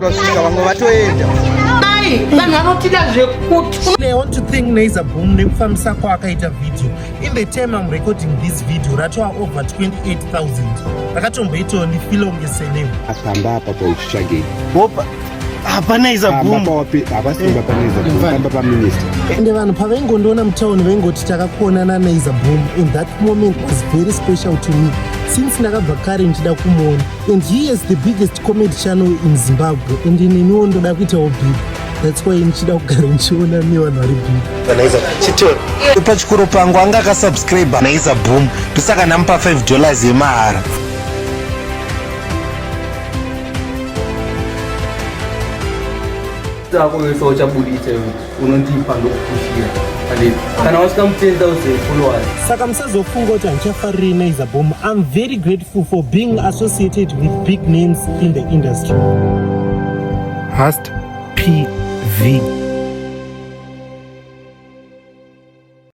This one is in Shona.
Vasvika vamwe vatoenda. Mai, vanhu vanotida zvekuti. I want to thank Naiza Boom nekufambisa kwaakaita video. In the time I'm recording this video, ratova over 28,000. Rakatomboitawo ndifile unge celeb. Apamba apa pauchitsvagei. Bopa. hapana izabhumhapamba paminista ende vanhu pavaingondiona mutauni vaingoti takakuonana naizabhum and that moment was very special to me since ndakabva kare ndichida kumuona and he is the biggest comedy channel in zimbabwe and ineniwo ndoda kuitawo big that's why ndichida kugara ndichiona nevanhu vari big pachikoro pangu anga akasubscribe naiza boom ndosaka ndamupa 5 dollars yemahara Tako wese uchabuditsa iwe unondipa ndokukushira kana wasvika mu10,000 followers. Saka musazofunga kuti handichafarirei Naiza Boom. I'm very grateful for being associated with big names in the industry. Hast PV.